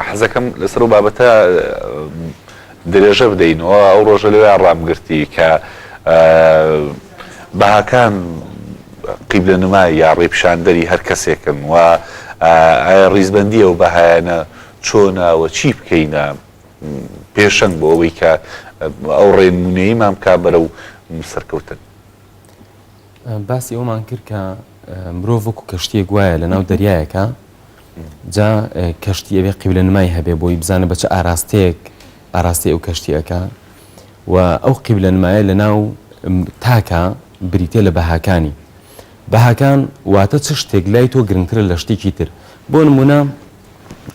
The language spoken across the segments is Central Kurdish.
حەزەکەم لەسەر و بابەتە درێژە بدەینەوە ئەو ڕۆژە لەوێ ڕامگرتی کە بەهاکان قیبلە نمای یا ڕێپشاندەری هەر کەسێکن و ڕیزبندی ئەو بەهایەنە چۆناوە چی بکەینە پێشەنگ بۆ ئەوەی کە ئەو ڕێنمونەیمان بک بەرە و سەرکەوتن باسی ئەومان کرد کە مرۆڤ وەکو کەشتیەک وایە لە ناو دەریایەکە جا کەشتی ئەوێ قیبلە نمای هەبێ بۆی بزانە بە چ ئاراستەیەک ئاراستی ئەو کەشتیەکە و ئەو قیبلە نمایە لە ناو تاکە بریتە لە بەهاکانی بەهاکان واتە چ شتێک لای تۆ گرنگترە لە شتێکی تر بۆ نمونە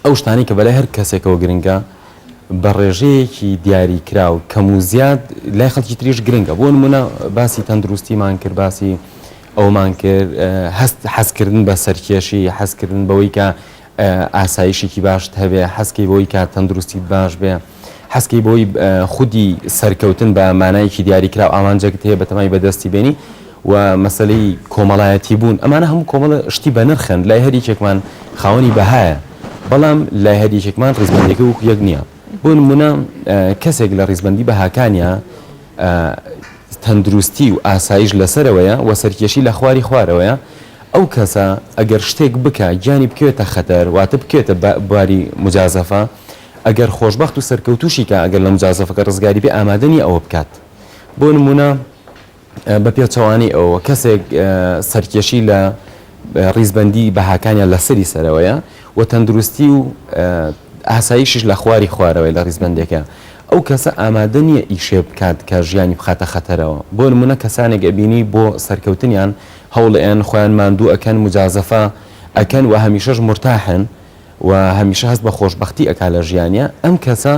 ئەو شتانەی کە بەلای هەر کەسێکەوە گرنگە بە ڕێژەیەکی دیاریکراو کەم و زیاد لای خەڵکی تریش گرنگە بۆ نمونە باسی تەندروستیمان کرد باسی ئەومان کرد هەست حەزکردن بە سەرکێشی حەزکردن بەوەی کە ئاسایشێکی باشت هەبێ حەزکەی بۆی کە تەندروستیت باش بێ هەستی بۆی خودی سەرکەوتن بە مانایەکی دیاریکراو ئامانجێکت هەیە بەتەمای بەدەستی بێنی و مەسلەی کۆمەڵایەتی بوون ئەمانە هەموو کۆمەڵە شتی بە نرخن لای هەریکێکمان خاوەنی بەهایە بەڵام لای هەریکێکمان ڕزمەندەکە وەکو یەک نییە بۆ نمونە کەسێک لە ڕیزبندی بەهاکانە تەندروستی و ئاسایش لەسەرەوەیە و سەرکێشی لە خواری خوارەوەیە ئەو کەسە ئەگەر شتێک بکە گیانی بکوێتە خەتەر واتە بکوێتە باری مجازەفە ئەگەر خۆشبەخت و سەرکەوتووشی کە ئەگەر لە موجازەفەکە ڕزگاری بێ ئامادە نییە ئەوە بکات بۆ نموونە بە پێچەوانەی ئەوە کەسێک سەرکێشی لە ڕیزبەندی بەهاکانیان لە سەری سەرەوەیە و تەندروستی و ئاسایشش لە خواری خوارەوەی لە ڕیزبەندێکە ئەو کەسە ئامادە نییە ئیشێ بکات کە ژیانی بخاتە خەتەرەوە بۆ نمونە کەسانێک ئەبینی بۆ سەرکەوتنیان هەوڵئێن خۆیان ماندوو ئەکەن مجازەفە ئەکەن و هەمیشەش مرتاحن و هەمیشە هەست بە خۆشبەختی ئەکا لە ژیانیا ئەم کەسە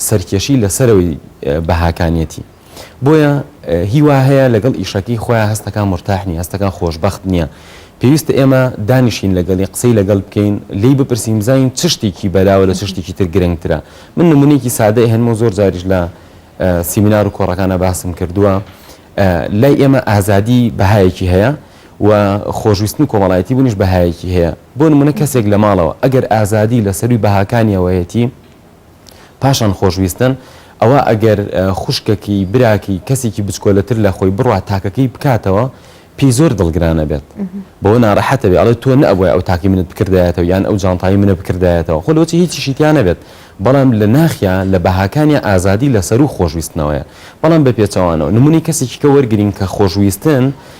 سەرکێشی لە سەرەوەی بەهاکانیەتی بۆیە هی وا هەیە لەگەڵ ئیشەکەی خۆیا هەستەکان مرتاح نیە هەستەکان خۆشبەخت نیە پێویستە ئێمە دانیشین لەگەڵی قسەی لەگەڵ بکەین لێی بپرسین بزانین چ شتێکی بەلاوە لە چ شتێکی تر گرنگترە من نمونەیەکی سادە ئەهێنمەوە زۆر جاریش لە سیمینار و کۆڕەکانا باسم کردووە لای ئێمە ئازادی بەهایەکی هەیە و خۆشویستن و کۆمەڵایەتی بوونیش بەهایەکی هەیە، بۆ نموونە کەسێک لە ماڵەوە ئەگەر ئازادی لە سەرووی بەهاکانی ئەوەیەتی پاشان خۆشویستن، ئەوا ئەگەر خوشکەکەی، براکەی، کەسێکی بچکۆلەتر لە خۆی بڕوات تاکەکەی بکاتەوە پێی زۆر دڵگرانە بێت بەوە نارەحەتە بێ ئەڵێ تۆ نەبوای ئەو تاکی منت بکردایەتەوە یان ئەو جانتایی منە بکردایەتەوە خۆ لۆچی هیچیشی تیا نەبێت بەڵام لە ناخیا لە بەهاکانی ئازادی لە سەروو خۆشویستنەوەیە بەڵام بە پێچەوانەوە نمونی کەسێکی کە وەرگین کە خۆشویستن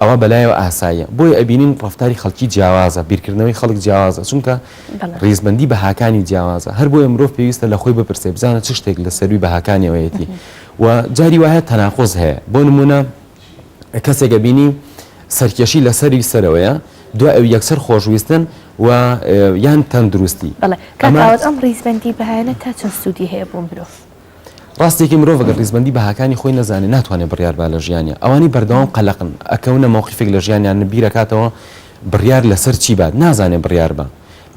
ئەوا بەلایەوە ئاساییە بۆیە ئەبینین ڕەفتاری خەڵکی جیاوازە بیرکردنەوەی خەڵک جیاوازە چونکە ڕیزبەندی بەهاکانی جیاوازە هەر بۆیە مرۆڤ پێویستە لە خۆی بپرسێ بزانە چ شتێک لە سەروی بەهاکانیەوەیەتی و جاری وایە تەناقۆز هەیە بۆ نمونە کەسێکە بینی سەرکێشی لەسەری سەرەوەیە دو ئەو یەکسەر خۆشویستن و یان تەندروستی ئەم ڕیزبندی بەیانە تا چەند سوودی هەیە بۆ مرۆڤ ڕاستیەکەی مرۆڤ گەر ڕیزبەندی بەهاکانی خۆی نەزانێ ناتوانێ بڕیار با لە ژیانیا ئەوانەی بەردەوام قەلەقن ئەکەونە مەوقیفێک لە ژیانیان بیرەکاتەوە بڕیار لەسەر چی بات نازانێ بڕیار با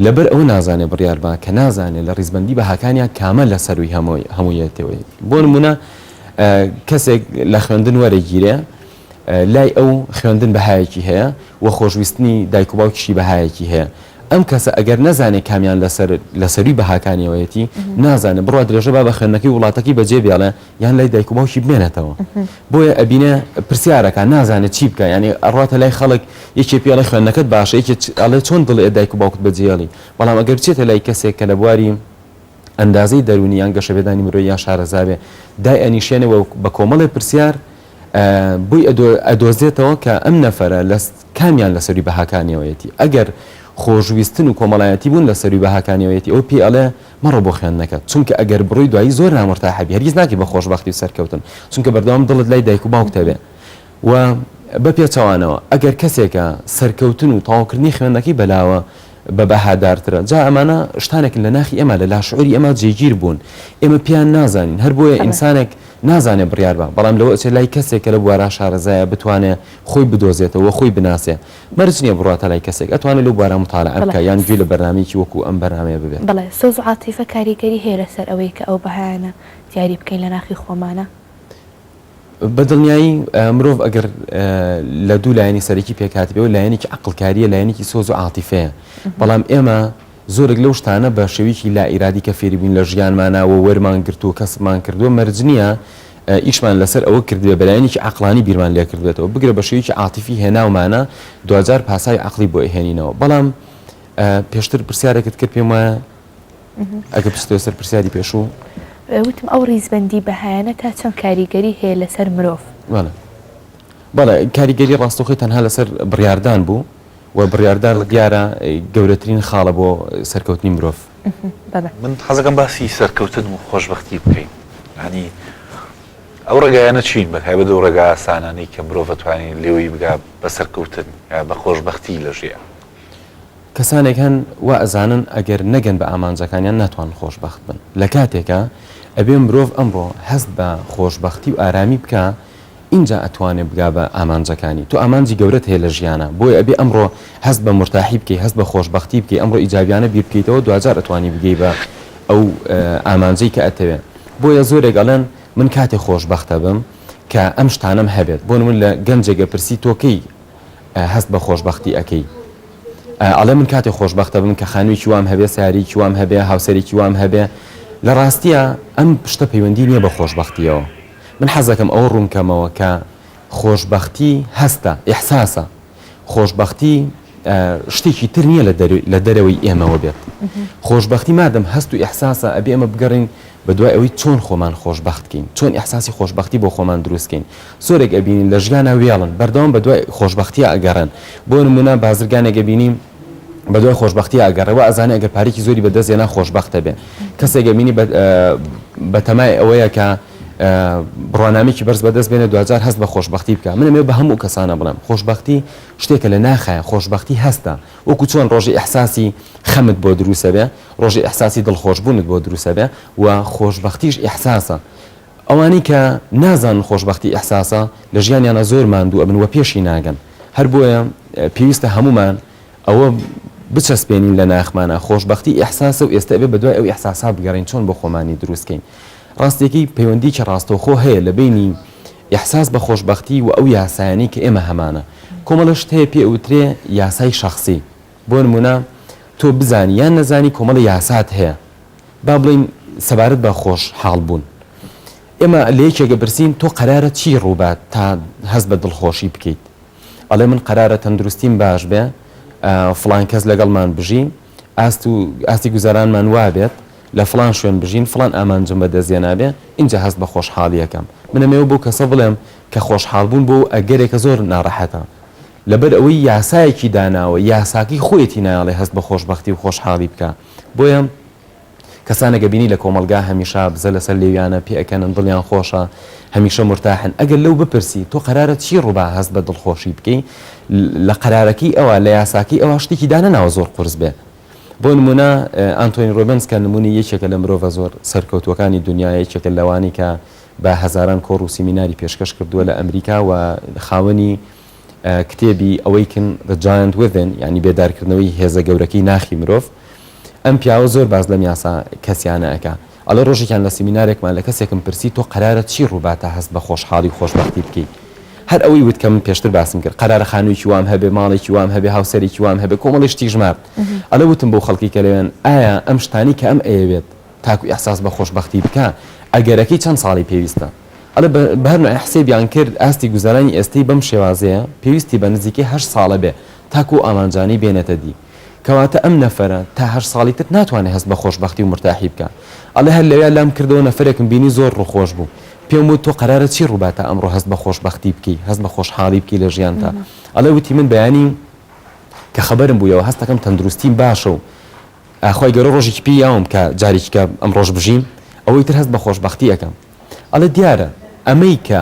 لەبەر ئەوە نازانێ بڕیار با کە نازانێ لە ڕیزبەندی بەهاکانیا کامە لە سەروی هەمووی هەموویەتەوەی بۆ نمونە کەسێک لە خوێندن وەرەگیرێ لای ئەو خوێندن بەهایەکی هەیە و خۆشویستنی دایک و باوکیشی بەهایەکی هەیە. ئەم کەسە ئەگەر نەزانێ کامیان لەسەر لە سەرووی بەهاکانیەوەیەتی، نازانێ بڕوا درێژە با بە خوێندنەکەی وڵاتەکەی بەجێ بێڵێ یان لای دایک و باوکی بمێنێتەوە. بۆیە ئەبینێ پرسیار ئەکا نازانێ چی بکا یانی ئەڕواتە لای خەڵک یەکێ پێڵێ خوێندنەکەت باشە یەکێ ئەڵێ چۆن دڵێ دایک و باوکت بەجێێڵی، بەڵام ئەگەر بچێتە لای کەسێک کە لە بواری ئەندازەی دەروونی یان گەشەپێدانی مرۆیی یان شارەزا بێ دایئەنیشێنێ و بە کۆمەڵێ پرسیار بۆی ئەدۆزێتەوە کە ئەم نەفەرە کامیان لە سەروی بەهاکانیەوەیەتی، ئەگەر خۆشویستن و کۆمەڵایەتی بوون لە سەروی بەهاکانیەوەیەتی ئەوە پێی ئەڵێ مەڕۆ بۆ خوێندنەکەت، چونکە ئەگەر بڕۆی دوایی زۆر نامورتاحبی هەرگیز ناگەی بە خۆشبەختی و سەرکەوتن، چونکە بەردەوام دڵت لای دایک و باوکتە بێ و بە پێچەوانەوە ئەگەر کەسێکە سەرکەوتن و تەواوکردنی خوێندنەکەی بەلاوە، بە بەهادارترە جا ئەمانە شتانێکن لە ناخی ئێمە لە لاشعوری ئێمە جێگیر بوون ئێمە پێیان نازانین هەر بۆیە ئینسانێک نازانێ بڕیار با بەڵام لەوە ئەچێ لای کەسێک کە لە بوارا شارەزایە بتوانێ خۆی بدۆزێتەوە خۆی بناسێ مەرج نییە بڕواتە لای کەسێک ئەتوانێ لەو بوارە متالەعە بکا یان گوێ لە بەرنامەیەکی وەکوو ئەم بەرنامەیە ببێ. بەڵێ سۆز و عاتیفە کاریگەری هەیە لەسەر ئەوەی کە ئەو بەهایانە دیاری بکەین لە ناخی خۆمانا. بە دڵنیایی مرۆڤ ئەگەر لە دوو لایەنی سەرەکی پێکهاتبێ و لایەنێکی عقلکاریە لایەنێکی سۆز و عاتیفەیە بەڵام ئێمە زۆرێک لەو شتانە بە شێویکی لا ئیرادی کە فێری بووین لە ژیانمانەوە وەرمان گرت و کەسبمان کردووە مەرج نییە ئیشمان لەسەر ئەوە کردوێ بەلایەنێکی عقلانی بیرمان لێ کردوێتەوە بگرە بە شێویکی عاتیفی هێناومانە دوجار پاسای عقلی بۆ هێنینەوە بەڵام پێشتر پرسیارێکت کرد پێم وایە ئەگە بستێ سەر پرسیاری پێشوو وتم ئەو ڕیزبندی بەهایەنە تا چەند کاریگەری هەیە لەسەر مرۆڤ بەڵێ کاریگەری ڕاستەخۆی تەنها لەسەر بڕاردان بوو و بڕاردان دیارە گەورەترین خاڵە بۆ سەرکەوتنی مرۆڤ من حەزەکەم باسی سەرکەوتن و خۆشببختی بکەین هەنی ئەو ڕێگایانە چین بە های بەدە و ڕێگا ئاسانانی کە مرۆڤ توانین لێوەی بگا بە سەرکەوتن یا بە خۆشببختی لە ژیان کەسانێک هەن وا ئەزانن ئەگەر نەگەن بە ئامانجەکانیان ناتوانن خۆشبەخت بن لە کاتێکا ئەبێ مرۆڤ ئەمڕۆ هەست بە خۆشبەختی و ئارامی بکا ئینجا ئەتوانێ بگا بە ئامانجەکانی تۆ ئامانجی گەورەت هەیە لە ژیانا بۆیە ئەبێ ئەمڕۆ هەست بە مورتاحی بکەی هەست بە خۆشبەختی بکەی ئەمڕۆ ئیجابیانە بیر بکەیتەوە دواجار ئەتوانی بگەی بە ئەو ئامانجەی کە ئەتەوێ بۆیە زۆرێک ئەڵێن من کاتێ خۆشبەختە بم کە ئەم شتانەم هەبێت بۆ نمون لە گەنجێگە پرسی تۆ کەی هەست بە خۆشبەختی ئەکەی ئەڵێ من کاتێ خۆشببختە بم کە خانوێکی وام هەبێ ساریکی وام هەبێ هاوسەرێکی وام هەبێ لە ڕاستیە ئەم پشتە پەیوەندی نییە بە خۆشببختیەوە من حەزەکەم ئەوە ڕوونکەمەوە کە خۆشببختی هەستە ئحساسە خۆشببختی شتێکی تر نییە لە دەرەوەی ئێمەوە بێت خۆشببختی مادەم هەست و ئحساسە ئەبێ ئەمە بگەڕین بە دوای ئەوەی چۆن خۆمان خۆشببختکەین چۆن ئحساسی خۆشببختی بۆ خۆمان دروستکەین زۆرێک ئەبینین لە ژیانا وێڵن بەردەوام بەدوای خۆشبەختیا ئەگەڕێن بۆ نمونە بازرگانێک ئەبینی بەدوای خۆشبەختیا ئەگەڕێ وا ئەزانێ ئەگەر پارێکی زۆری بەدەست هێنا خۆشبەختە بێ کەسێک ئەبینی بەتەمای ئەوەیە کە بڕوانامێکی بەرز بەدەست بێنە دوجار هەست بە خۆشببختی بکە منەمێ بە هەموو کەسانە بڵێم خۆشببختی شتێکە لە ناخایە خۆشببختی هەستە وەکو چۆن ڕۆژی ئەحساسی خەمت بۆ دروسە بێ ڕۆژی ئەحساسی دڵخۆشببوونت بۆ دروسە بێ و خۆشببختیش ئەحساسە ئەوانەی کە نازانن خۆشبەختی ئیحساسە لە ژیانیانا زۆر ماندوو ئەبن وە پێشی ناگەن هەر بۆیە پێویستە هەموومان ئەوە بچەسپێنین لە ناخمانا خۆشبەختی ئیحساسە و ئێستە ئەبێ بەدوای ئەو ئیحساسا بگەڕێین چۆن بۆ خۆمانی دروست کەین ڕاستیەکەی پەیوەندیکی ڕاستەوخۆ هەیە لە بینی ئیحساس بە خۆشبەختی و ئەو یاسایانی کە ئێمە هەمانە کۆمەڵە شت هەیە پێ ئەوترێ یاسای شەخسی بۆ نموونە تۆ بزانی یان نەزانی کۆمەڵێ یاسات هەیە با بڵێین سەبارەت بە خۆش حاڵ بوون ئێمە لە یەکێک دەپرسین تۆ قەرارە چی ڕووبات تا هەست بە دڵخۆشی بکەیت ئەڵێ من قەرارە تەندروستیم باش بێ فلان کەس لەگەڵمان بژی ئاست و ئاستی گوزارانمان وابێت لە فلان شوێن بژین فلان ئامانجم بە دەستێ نابێ اینجا هەست بە خۆشحاڵیەکەم منەمەوە بۆ کەسە بڵێم کە خۆشحاڵ بوون بۆ ئەگەرێکە زۆر ناڕەحەتە لەبەر ئەوەی یاسایەکی داناوە یاساکەی خۆیەتی نایەڵێ هەست بە خۆشبەختی و خۆشحاڵی بکا بۆیە کەسانێک ئەبینی لە کۆمەڵگا هەمیشە بزە لەسەر لێویانە پێ ئەکەنن دڵیان خۆشە هەمیشە مورتاحن ئەگەر لەو بپرسی تۆ قەرارە چی ڕووبا هەست بە دڵخۆشی بکەی لە قەرارەکەی ئەوە لە یاساکەی ئەوە شتێکی دانەناوە زۆر قورس بێ بۆ نمونە ئانتۆین ڕۆبنس کە نمونی یەکێکە لە مرۆڤە زۆر سەرکەوتوەکانی دنیا یەکێکە لەوانی کە بە هەزاران کۆڕ و سیمیناری پێشکەش کردووە لە ئەمریکا و خاوەنی کتێبی Awaken the Giant Within یانی بێدارکردنەوەی هێزە گەورەکەی ناخی مرۆڤ ئەم پیاوە زۆر باس لەم یاسا کەسیانە ئەکا ئەڵێ ڕۆژێکیان لە سیمینارێکمان لە کەسێکم پرسی تۆ قەرارە چی ڕووباتە هەست بە خۆشحاڵی و خۆشبەختی بکەی هەر ئەوەی وت کە من پێشتر باسم کرد قەرارە خانوویکی وام هەبێ ماڵێکی وام هەبێ هاوسەرێکی وام هەبێ کۆمەڵی شتی ژمارد ئەلە وتم بۆ خەڵکی کە لەوێن ئایا ئەم شتانی کە ئەم ئەیەوێت تاکو ئیحساس بە خۆشبەختی بکا ئەگەرەکەی چەند ساڵی پێویستە ئەڵێ بە هەر نوعێ حسێبیان کرد ئاستی گوزەرانی ئێستەی بەم شێوازەیە پێویستی بە نزیکەی هەشت ساڵە بێ تاکو ئەو ئامانجانەی بێنێتە دی کەواتە ئەم نەفەرە تا هەشت ساڵی تر ناتوانێ هەست بە خۆشبەختی و مورتاحی بکا ئەڵێ هەر لەویا لام کردەوە نەفەرێکم بینی زۆر ڕووخۆش بوو پێم وت تۆ قەرارە چی ڕووبا تا ئەمڕۆ هەست بە خۆشبەختی بکەی هەست بە خۆشحاڵی بکەی لە ژیانتا ئەڵێ وتی من بەیانی کە خەبەرم بوویەوە هەستەکەم تەندروستیم باشە و ئا خوای گەورە ڕۆژێکی پێ یاوم کە جارێکی کە ئەمڕۆش بژیم ئەوەی تر هەست بە خۆشبەختی ئەکەم ئەڵێ دیارە ئەمەی کە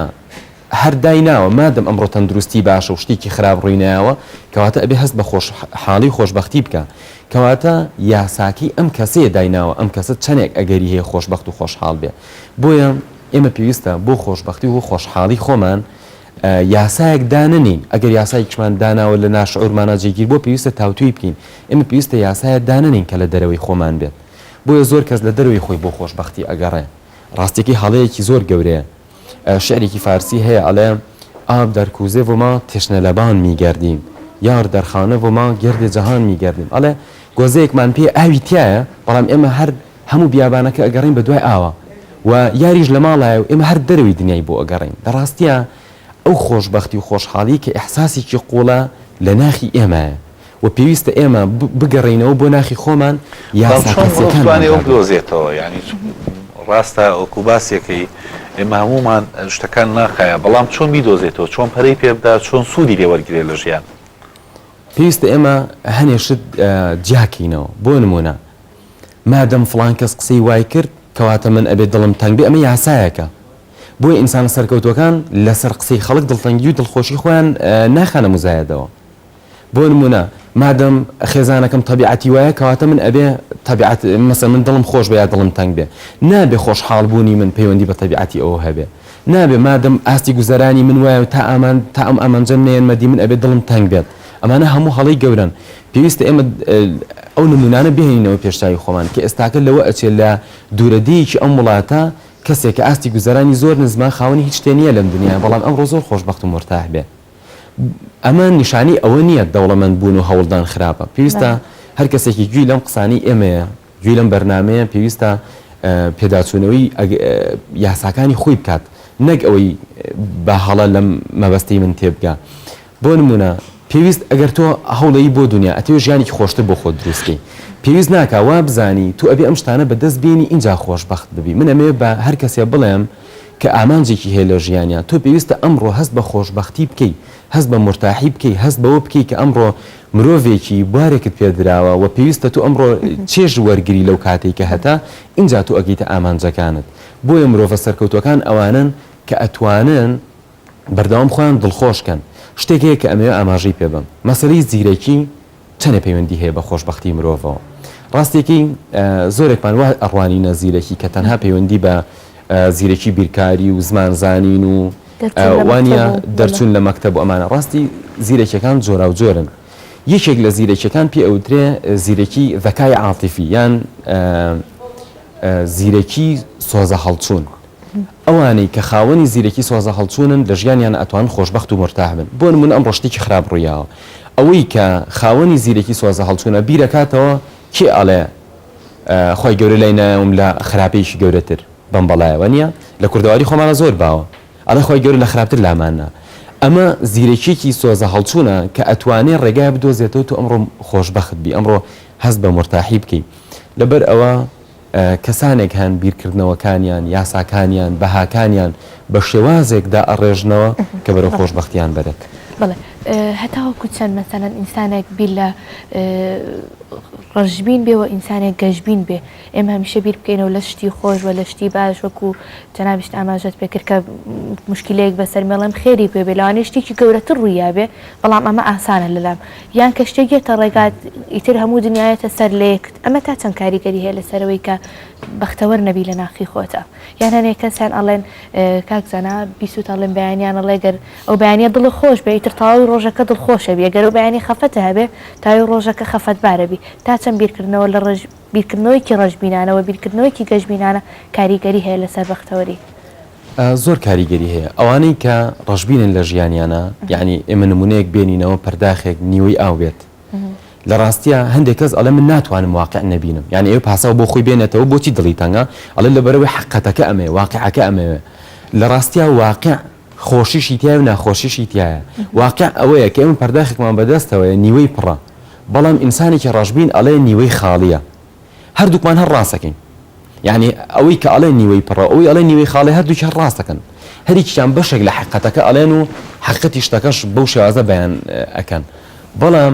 هەر دای ناوە مادەم ئەمڕۆ تەندروستی باشە و شتێکی خراپ ڕووی نایاوە کەواتە ئەبێ هەست بە خۆش حاڵی و خۆشبەختی بکا کەواتە یاساکەی ئەم کەسەیە دای ناوە ئەم کەسە چەنێک ئەگەری هەیە خۆشبەخت و خۆشحاڵ بێ بۆیە ئێمە پێویستە بۆ خۆشبەختی و خۆشحاڵی خۆمان یاسایەک دانەنێین، ئەگەر یاسایەکیشمان داناوە لە ناشعورمانا جێگیر بووە پێویستە تاوتوێی بکەین، ئێمە پێویستە یاسایە دانەنێین کە لە دەرەوەی خۆمان بێت، بۆیە زۆر کەس لە دەرەوەی خۆی بۆ خۆشبەختی ئەگەڕێ، ڕاستیەکەی هەڵەیەکی زۆر گەورەیە، شیعرێکی فارسی هەیە ئەڵێ، ئاب در کوزه و ما تشنه لبان میگردیم، یار در خانه و ما گرد جهان میگردیم، ئەڵێ گۆزەیەکمان پێیە ئاوی تیایە، بەڵام ئێمە هەر. هەموو بیابانەکە ئەگەڕێین بە دوای ئاوا و یاریش لە ماڵایە و ئێمە هەر دەرەوەی دنیای بۆ ئەگەڕێین، لە ڕاستیا ئەو خۆشبەختی و خۆشحاڵیی کە ئیحساسێکی قووڵە لە ناخی ئێمەیە و پێویستە ئێمە بگەڕێینەوە بۆ ناخی خۆمان، یاسا کەسییەکانمان دابنێین. پێویستە ئێمە هەنێ شت جیاکەینەوە، بۆ نموونە. مادەم فڵان کەس قسەی وای کرد کەواتە من ئەبێ دڵم تەنگ بێ ئەمە یاسایەکە بۆیە ئینسانە سەرکەوتوەکان لەسەر قسەی خەڵک دڵتەنگی و دڵخۆشی خۆیان ناخەنە موزایەدەوە بۆ نمونە مادەم خێزانەکەم تەبیعەتی وایە کەواتە من ئەبێ تەبیعەت مەسە من دڵم خۆش بێ یا دڵم تەنگ بێ نابێ خۆشحاڵ بوونی من پەیوەندی بە تەبیعەتی ئەوە هەبێ نابێ مادەم ئاستی گوزەرانی من وایە تا ئامان تا ئەم ئامانجەم نێنمەدی من ئەبێ دڵم تەنگ بێت ئەمانە هەموو هەڵەی گەورەن پێویستە ئێمە ئەو نموونانە بهێنینەوە پێش چاوی خۆمان کە ئێستاکە لەوە ئەچێت لە دوورەدێیەکی ئەم وڵاتە کەسێک کە ئاستی گوزەرانی زۆر نزمە خاوەنی هیچ شتێ نییە لەم دنیایە بەڵام ئەمڕۆ زۆر خۆشبەخت و مورتاح بێ ئەمە نیشانەی ئەوە نییە دەوڵەمەند بوون و هەوڵدان خراپە پێویستە هەر کەسێکی گوێی لەم قسانەی ئێمەیە گوێی لەم بەرنامەیە پێویستە پێداچوونەوەی ئەگ یاساکانی خۆی بکات نەک ئەوەی بە هەڵە لەم مەبەستەی من تێبگا بۆ نمونە پێویست ئەگەر تۆ هەوڵەی بۆ دنیا ئەتەوێ ژیانێکی خۆشتر بۆ خۆت دروستکەی پێویست ناکا وا بزانی تو ئەبێ ئەم شتانە بە دەست بێنی ئینجا خۆشبەخت ببی من ئەمەوێ بە هەر کەسێ بڵێم کە ئامانجێکی هەیە لە ژیانیا تۆ پێویستە ئەمڕۆ هەست بە خۆشبەختی بکەی هەست بە مورتاحی بکەی هەست بەوە بکەی کە ئەمڕۆ مرۆڤێکی بوارێکت پێ دراوە و پێویستە تۆ ئەمڕۆ چێژ وەرگری لەو کاتەی کە هەتە، ئینجا تۆ ئەگەیتە ئامانجەکانت. بۆیە مرۆڤە سەرکەوتووەکان ئەوانەن کە ئەتوانن بەردەوام خۆیان دڵخۆش کەن. شتێک هەیە کە ئەمەوێ ئاماژەی پێ بەم. مەسەلەی زیرەکی چەنێ پەیوەندی هەیە بە خۆشبەختی مرۆڤەوە. ڕاستییەکەی زۆرێکمان وا ئەڕوانینە زیرەکی کە تەنها پەیوەندی بە زیرەکی بیرکاری و زمان زانین و وانیە دەرچوون لە مەکتەب و ئەمانە ڕاستی زیرەکیەکان جۆراوجۆرن یەکێک لە زیرەکیەکان پێ ئەوترێ زیرەکی ذەکای عاتیفی یان زیرەکی سۆزە هەڵچوون ئەوانەی کە خاوەنی زیرەکی سۆزە هەڵچوونن لە ژیانیان ئەتوان خۆشببخت و مرتاح بن بۆن من ئەم ڕشتێکی خراپ ڕوویاوە ئەوەی کە خاوەنی زیرەکی سۆزە هەڵچوونە بیرەکاتەوە کێ ئەڵێ خی گەورە لای ناوم لە خراپەیەکی گەورەتر بەم بەڵایەوە نیە لە کوردەواری خۆمانا زۆر باوە ئەڵێ خوای گەورە لە خراپتر لامان نا ئەمە زیرەکیەکی سۆزە هەڵچونە کە ئەتوانێ ڕێگای بدۆزێتەوە تۆ ئەمڕۆ خۆش بەخت بی ئەمڕۆ هەست بە مورتاحی بکەی لەبەر ئەوە کەسانێک هەن بیرکردنەوەکانیان یاساکانیان بەهاکانیان بە شێوازێک دا ئەڕێژنەوە کە بەرەو خۆش بەختیان بەرێت بڵێ هەتاوەکو چەند مەسەەن ئینسانێک بیر لە ڕژبین بێ و ئینسانێک گەشببین بێ ئێمە هەمیشە بیر بکەینەوە لە شتی خۆش و لە شتی باش وەکو جەنابیشت ئاماژەت پێ کرد کە مشکلەیەک بەسەر مێڵێم خێری پێ بێ لەوانەیە شتێکی گەورەتر ڕوویا بێ بەڵام ئەمە ئاسانە لەلام یان کە شتێک یەتە ڕێگات ئیتر هەموو دنیایەتە سەر لە یەکت ئەمە تا چەند کاریگەری هەیە لەسەرەوەی کە بەختەوەر نەبی لە ناخی خۆتا یان هەنێ کەسیان ئەڵێن کاک زانا بیسووت ئەڵێن بەیانیان ئەڵێ گەر ئەو بەیانە دڵە خۆش بێ ئیتر تەواوی ڕۆژەکە دڵخۆشە بێ گەر ئەو بەیانی خەفەتە هەبێ تاوی ڕۆژەکە خەفەتبارە بی تا چەند بیرکردنەوە لە ڕژ بیرکردنەوەیەکی ڕەشبینانە و بیرکردنەوەیەکی گەشبینانە کاریگەری هەیە لەسەر بەختەوەری. زۆر کاریگەری هەیە. ئەوانەی کە ڕەشبینن لە ژیانیانە، یانی ئێمە نموونەیەک بێنینەوە پەرداخێک نیوەی ئاو بێت. لە ڕاستیا هەندێک کەس ئەڵێ من ناتوانم واقیع نەبینم. یانی ئەوێ پاساو بۆ خۆی بێنێتەوە بۆچی دڵی تەنگە؟ ئەڵێ لەبەرئەوەی حەققەتەکە ئەمەیە، واقیعەکە ئەمەیە. لە ڕاستیا واقیع. خۆشیشی تیایە و ناخۆشیشی تیایە واقع ئەوەیە کە ئێمە پەرداخێکمان بەدەستەوەیە نیوەی پڕە بەڵام ئینسانێکی ڕەشبین ئەڵێ نیوەی خاڵیە هەردووکمان هەر ڕاستەکەین یەعنی ئەوەی کە ئەڵێ نیوەی پڕە ئەوەی ئەڵێ نیوەی خاڵێ هەردووکی هەر ڕاستەکەن هەریکیان بەشێک لە حەقیقەتەکە ئەڵێن و حەقیقەتی شتەکەش بەو شێوازە بەیان ئەکەن بەڵام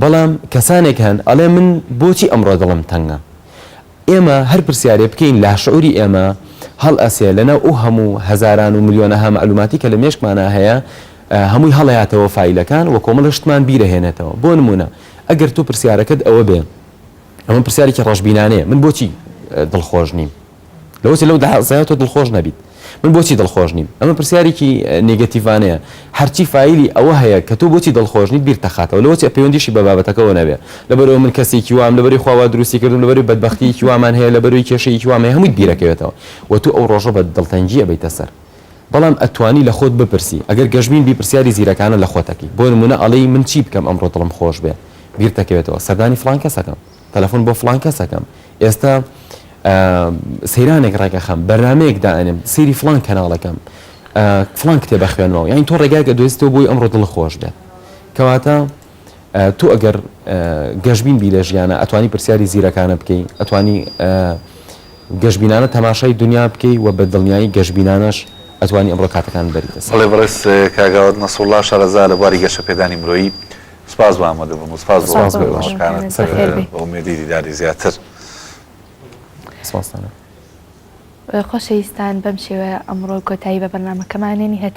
بەڵام کەسانێک هەن ئەڵێ من بۆچی ئەمڕۆ دڵم تەنگە؟ ئێمە هەر پرسیارێ بکەین لاشعوری ئێمە هەڵئەسێ لەناو ئەو هەموو هەزاران و ملیۆنەها مەعلوماتی کە لە مێشکمانا هەیە هەمووی هەڵەیاتەوە فایلەکان و کۆمەڵێ شتمان بیرەهێنێتەوە بۆ نموونە ئەگەر تۆ پرسیارەکەت ئەوە بێ ئەمە پرسیارێکی ڕەشبینانەیە من بۆچی دڵخۆش نیم؟ لەوەچێ لەو دەعزایە تۆ دڵخۆش نەبیت من بۆچی دڵخۆش نیم ئەمە پرسیارێکی نیگەتیڤانەیە هەرچی فایلی ئەوە هەیە کە تۆ بۆچی دڵخۆش نیت بیرت دەخاتەوە لەوەچێ پەیوەندیشی بە بابەتەکەوە نەبێ لەبەرئەوە من کەسێکی وام لەبەری خوا وا دروستی کردم لەبەری بەدبەختیەکی وامان هەیە لەبەروی کێشەیەکی وام هەیە هەموویت بیرەکەوێتەوە و تۆ ئەو ڕۆژە بە دڵتەنگی ئەبەیتە سەر بەڵام ئەتوانی لە خۆت بپرسی ئەگەر گەشبین بی پرسیاری زیرەکانە لە خۆت ئەکەی بۆ نموونە ئەڵێی من چی بکەم ئەمڕۆ دڵم خۆش بێ بیرتەکەوێتەوە سەردانی فڵان کەس ئەکەم تەلەفۆن بۆ فڵان کەس ئەکەم ئێستا سەیرانێک ڕێکەخەم بەرنمەیەک دائنم سری فلان کەناڵەکەم فلان کتێ بەخوێنەوە یان تۆ ڕێگاکە دۆستەوە بۆی ئەمڕۆ دڵ خۆش بێت کەواتە تۆ ئەگەر گەشببین بی لە ژیانە ئەتوانی پرسیاری زیرەکانە بکەین ئەتوانی گەشببینانە تەماشای دنیا بکەی و بە دڵنیایی گەشببینانەش ئەتوانی ئەمڕۆ کاتەکان بەریتە سڵێ بڕێز کاگاوت نەسوڵا شارەزا لە بواری گەشە پێدانی مرۆیی سپاس بۆ ئامادەبوون و سپاس بۆ وەڵامەکانت بە ئومێدی دیداری زیاتر. خۆشەویستان بەم شێوەیە ئەمڕۆ کۆتایی بە بەرنامەکەمان هێنی هەتا